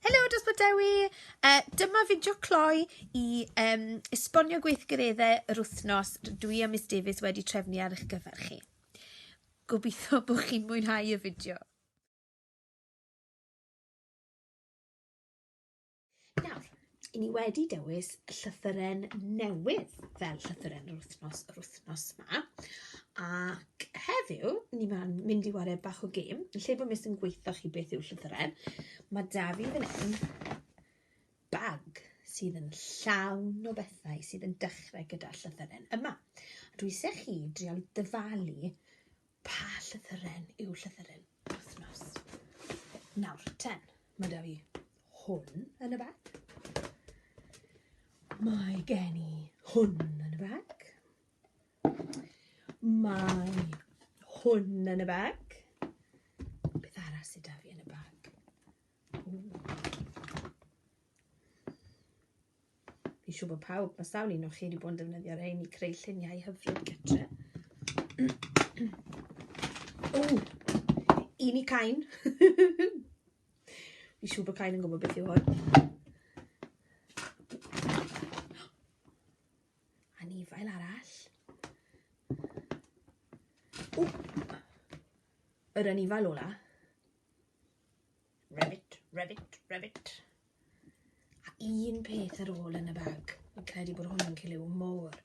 Helo dros bod Dewi! Uh, dyma fideo cloi i um, esbonio gweithgareddau yr wythnos dwi a Miss Davies wedi trefnu ar eich gyfer chi. Gobeithio bod chi'n mwynhau y fideo. Nawr, i ni wedi dewis llythyren newydd fel llythyren yr wythnos yr wythnos yma a ac heddiw ni ma'n mynd i ware bach o gêm lle bod mis yn gweithio chi beth yw llythyren. Mae da fi fan hyn bag sydd yn llawn o bethau sydd yn dechrau gyda llythyren yma. A dwi eisiau chi drial dyfalu pa llythyren yw llythyren wythnos. Nawr, ten, mae da fi hwn yn y bag. Mae gen i hwn yn y bag. Mae hwn yn y bag. Beth arall sydd 'da fi yn y bag? Fi'n siŵr bod pawb, mae sawl un o chi wedi bod yn defnyddio rhain i creu lluniau hyfryd gytre. o, un i cain. Fi'n siŵr bod cain yn gwybod beth yw hwn. Anifail arall. O! Yr anifail ola. Rabbit, rabbit, rabbit. A un peth ar ôl yn y bag. Fi'n credu bod hwn yn cilio môr.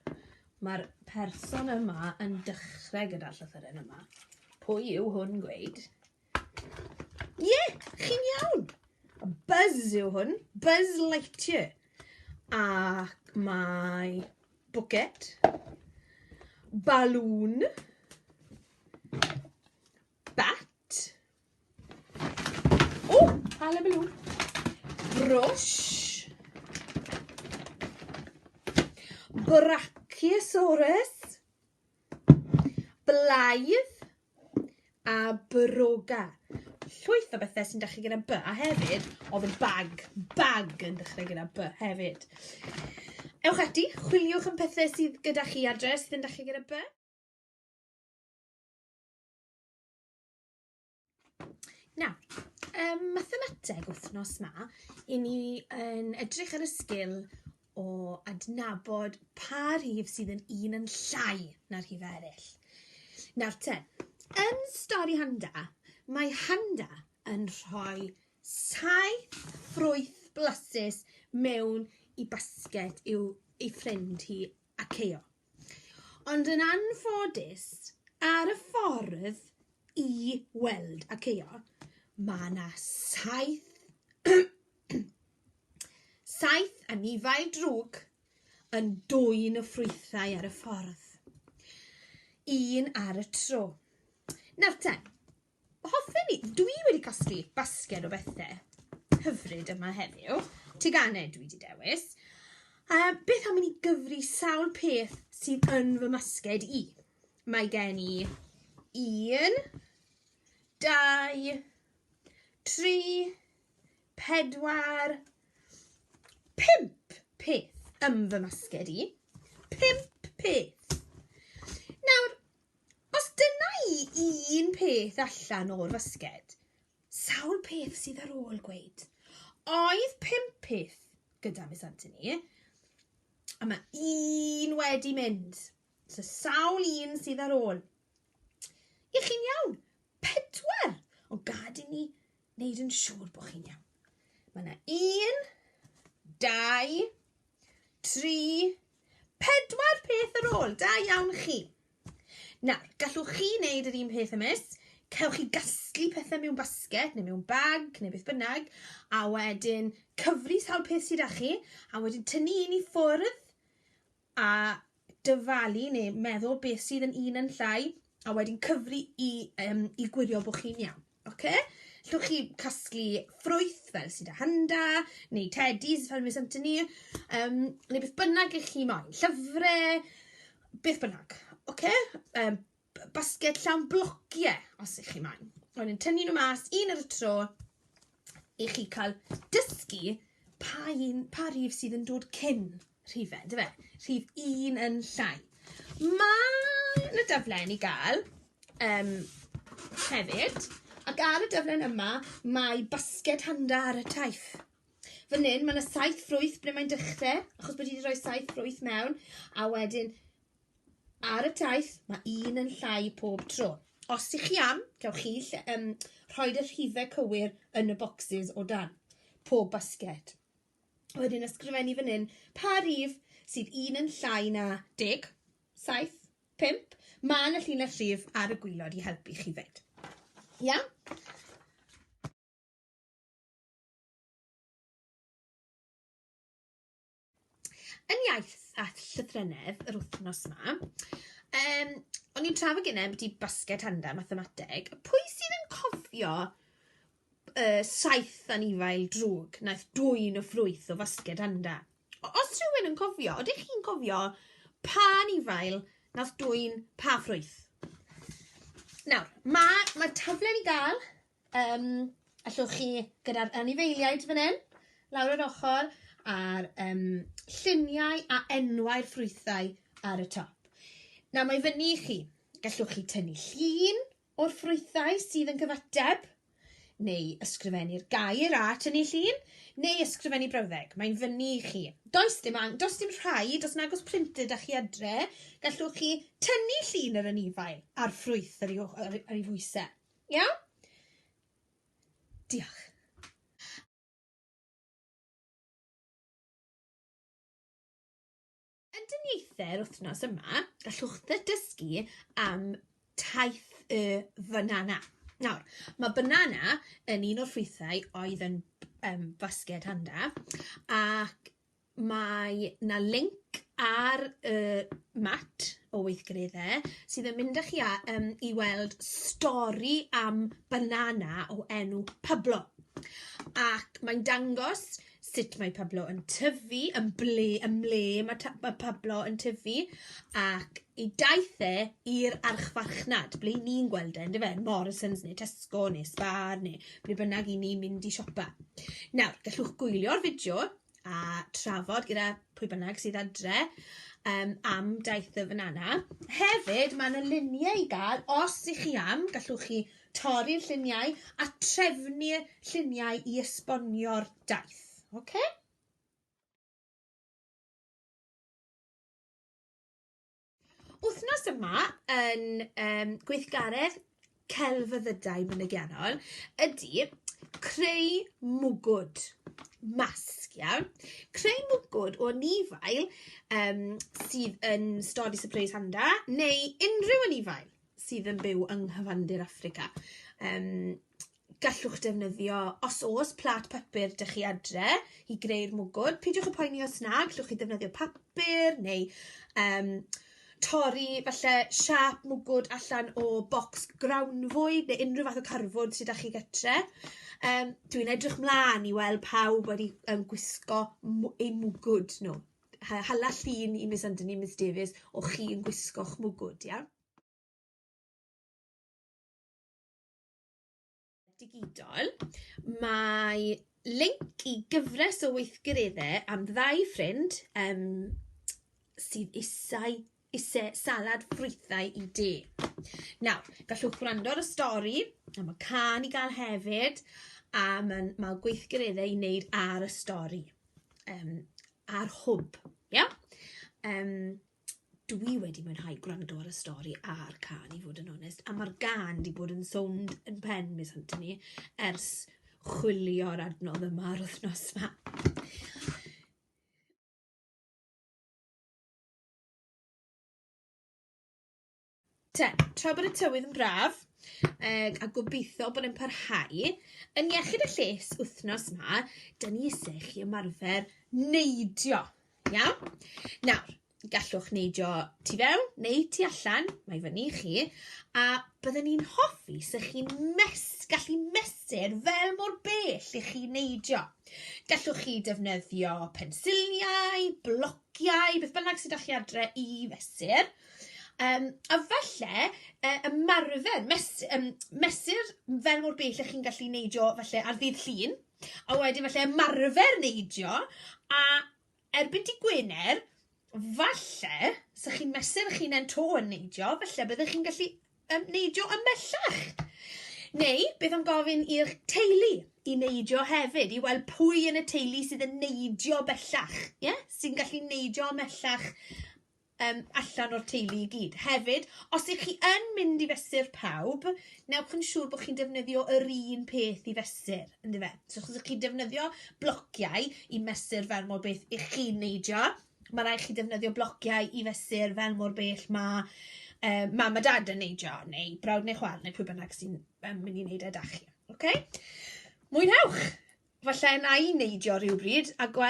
Mae'r person yma yn dechrau gyda'r llythyren yma. Pwy yw hwn gweud? Ie, yeah, chi'n iawn. Buzz yw hwn, Buzz Lightyear. Ac mae bwced, balŵn, bat, o, ala balŵn, brwsh, brachiosaurus, Blaidd a broga. Llwyth o bethau sy'n dechrau gyda B. A hefyd, oedd yn bag. Bag yn dechrau gyda B hefyd. Ewch ati, chwiliwch yn pethau sydd gyda chi adre sydd yn dechrau gyda B. Na, um, mathemateg wythnos ma, i ni yn edrych ar y sgil o adnabod pa rhif sydd yn un yn llai na'r rhif eraill. Nawr te, yn stori Handa, mae Handa yn rhoi saith ffrwyth blasus mewn i basged i'w ei ffrind hi a Ceo. Ond yn anffodus, ar y ffordd i weld Akeo, mae yna saith... saith anifail drwg yn dwyn y ffrwythau ar y ffordd, un ar y tro. Nawr te, Hoffen i... Dwi wedi casglu basged o bethe hyfryd yma heddiw. Teganau dwi wedi dewis. Um, beth am i ni gyfri sawl peth sydd yn fy masged i? Mae gen i un, dau, tri, pedwar, pimp peth yn fy masged i. Pimp peth. Nawr, Os dyna i un peth allan o'r fasged, sawl peth sydd ar ôl gweud. Oedd pump peth gyda Miss Anthony, a mae un wedi mynd. So sawl un sydd ar ôl. I chi'n iawn, pedwar, ond gad i ni wneud yn siŵr bod chi'n iawn. Mae yna un, dau, tri, pedwar peth ar ôl. Da iawn chi. Nawr, gallwch chi wneud yr un peth ymys. Cewch chi gasglu pethau mewn basged neu mewn bag neu beth bynnag a wedyn cyfri sawl peth sydd â chi a wedyn tynnu un i ffwrdd a dyfalu neu meddwl beth sydd yn un yn llai a wedyn cyfri i um, i gwirio bod chi'n iawn. Oce? Okay? Llwch chi casglu ffrwyth fel sydd â hynda, neu teddies fel mis ymtyn ni, um, neu beth bynnag ych chi moyn, llyfrau, beth bynnag. Oce? Okay? Um, basged llawn blociau, os ych chi moyn. Ond yn tynnu nhw mas, un ar y tro, i chi cael dysgu pa, un, pa rhif sydd yn dod cyn rhifau, dy fe? Rhif un yn llai. Mae yna daflen i gael um, hefyd, ac ar y daflen yma mae basged handa ar y taith. Fan hyn, mae yna saith ffrwyth ble mae'n dechrau, achos bod wedi rhoi saith ffrwyth mewn, a wedyn Ar y taith, mae un yn llai pob tro. Os ych chi am, cewch chi lle, um, rhoi'r rhifau cywir yn y bocsys o dan pob basged. Wedyn ysgrifennu fan hyn pa rif sydd un yn llai na 10, 7, 5. Mae yna llinell rif ar y gwylod i helpu chi fyd. Ia? Yn iaith a llythrennedd yr wythnos yma, um, o'n i'n trafod gynnau beth i basged handa mathemateg, pwy sydd yn cofio uh, saith anifail drwg naeth dwy'n o ffrwyth o fasged handa? Os rhywun yn cofio, oeddech chi'n cofio pa anifail nath dwy'n pa ffrwyth? Nawr, mae ma taflen i gael Yym, allwch chi, gyda'r anifeiliaid fan hyn, lawr yr ochr, a'r um, lluniau a enwau'r ffrwythau ar y top. Nawr mae fyny i chi. Gallwch chi tynnu llun o'r ffrwythau sydd yn cyfateb, neu ysgrifennu'r gair a tynnu llun, neu ysgrifennu brawddeg. Mae'n fyny i chi. Does dim, ang- does dim rhaid, os nag oes printed â chi adre, gallwch chi tynnu llun yr anifail a'r ffrwyth ar ei, ar ei fwysau. Iawn? Diolch. Undiniaethau'r wythnos yma, gallwch ddysgu am taith y banana. Nawr, mae banana yn un o'r ffrwythau oedd yn um, basged handa ac mae 'na linc ar y mat o weithgareddau sydd yn mynd â chi a- yym i weld stori am banana o enw Pablo, ac mae'n dangos sut mae Pablo yn tyfu, yn ble yn ble ma' ta- ma' Pablo yn tyfu ac 'i daith e i'r archfarchnad, ble 'yn ni'n gweld e yndyfe, Morrisons ne' Tesco ne' Spar ne' ble bynnag 'yn ni'n mynd i siopa. Nawr, gallwch gwylio'r fideo a trafod gyda pwy bynnag sydd adre yym am daith y fanana. Hefyd ma' 'na lunie i ga'l os 'y chi am gallwch chi torri'r lluniau a trefnu lluniau i esbonio'r daith. Oce? Wythnos yma yn um, gweithgaredd celfyddydau mynygiannol ydy creu mwgwd masg, iawn? Creu mwgwd o nifail um, sydd yn stori Surprise Handa neu unrhyw anifail sydd yn byw yng nghyfandir Africa. Um, gallwch defnyddio, os oes plat papur dych chi adre i greu'r mwgwd. Peidiwch y poeni os na, gallwch chi ddefnyddio papur neu um, torri falle siap mwgwd allan o bocs grawnfwyd neu unrhyw fath o carfwyd sydd â chi gytre. Um, Dwi'n edrych mlaen i weld pawb wedi um, gwisgo eu mwgwd nhw. Hala llun i Miss Anthony, Miss Davies, o chi yn gwisgo'ch mwgwd, iawn? digidol, mae link i gyfres o weithgareddau am ddau ffrind um, sydd isau, isau salad ffrwythau i de. Nawr, gallwch gwrando ar y stori, am y can i gael hefyd, a mae'n ma gweithgareddau i wneud ar y stori, um, ar hwb. Yeah? Um, dwi wedi mwynhau gwrando ar y stori a'r cân i fod yn onest, a ma'r gân 'di bod yn sownd yn pen Miss Anthony ers chwilio'r adnodd yma yr wythnos 'ma. Te, tra bod y tywydd yn braf, ag a gobeithio bod yn parhau, yn iechyd a lles wythnos ma, da ni eisiau chi ymarfer neidio. Iawn? Nawr, gallwch neidio tu fewn neu tu allan, mae fyny i chi, a byddwn ni'n hoffi sy'ch chi'n mes, gallu mesur fel mor bell i chi neidio. Gallwch chi defnyddio pensiliau, blociau, beth bynnag sydd â chi adre i fesur, Um, a falle uh, ymarfer, mes, um, mesur fel mor bell ych chi'n gallu neidio falle ar ddydd llun, a wedyn falle ymarfer neidio, a erbyn di Gwener, falle, sa chi'n mesur chi'n en to yn neidio, falle byddwch chi'n gallu um, neidio ymellach. Neu, beth am gofyn i'r teulu i neidio hefyd, i weld pwy yn y teulu sydd yn neidio bellach, yeah? sy'n gallu neidio ymellach yym allan o'r teulu i gyd. Hefyd, os ych chi yn mynd i fesur pawb, newch yn siŵr bod chi'n defnyddio yr un peth i fesur, ynddo fe? So os ych chi'n defnyddio blociau i mesur fel mor beth ych chi'n neidio, mae rhaid chi defnyddio blociau i fesur fel mor bell mae uh, mam a dad yn neidio, neu brawd neu chwal, neu pwy bynnag sy'n um, mynd i wneud e da chi. Okay? Mwynhewch! Falle na i neidio rhywbryd a gweld